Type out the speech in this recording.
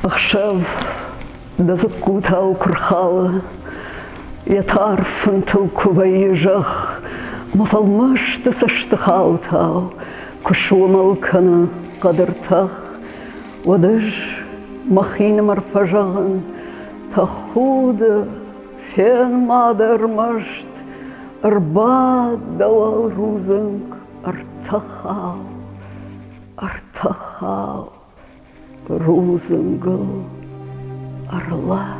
Ӕхсӕв дӕ дзыккутау куы рхалы, Йӕ тар фынтыл куы вӕййы зӕхх, Мӕ фӕлмасты цӕстыхаутау куы сомыл кӕны хъӕдыр тӕх, Уӕд ӕз мӕхинымӕр фӕзӕгъын, тӕхуды, фен-ма дӕ ӕрмӕст, ӕрбад дӕ уӕлрудзынг, ӕртӕхау, ӕртӕхау рудзынгыл ӕрлас.